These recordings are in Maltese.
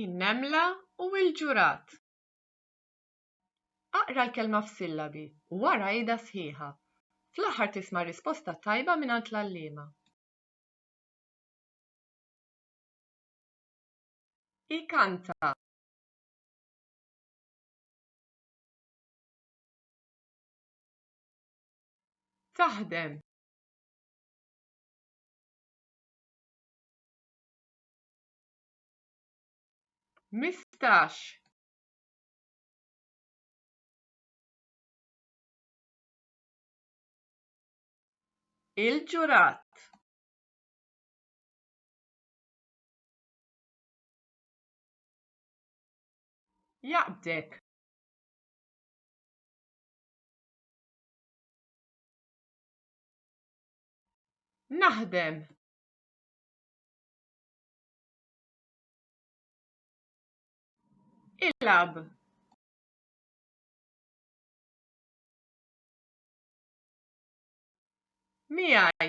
in-nemla u l-ġurat. Aqra l-kelma f'sillabi u wara għidha sħiħa. Fl-aħħar tisma' risposta tajba mingħand l-għalliema. Ikanta Taħdem Mistax. Il-ġurat. Jaqbdek. Naħdem. Ilab. Miegħi.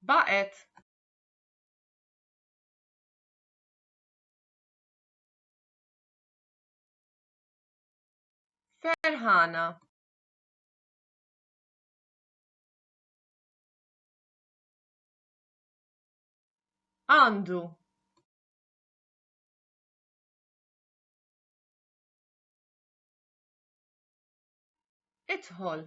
Baqet. Ferħana. Għandu. Idħol.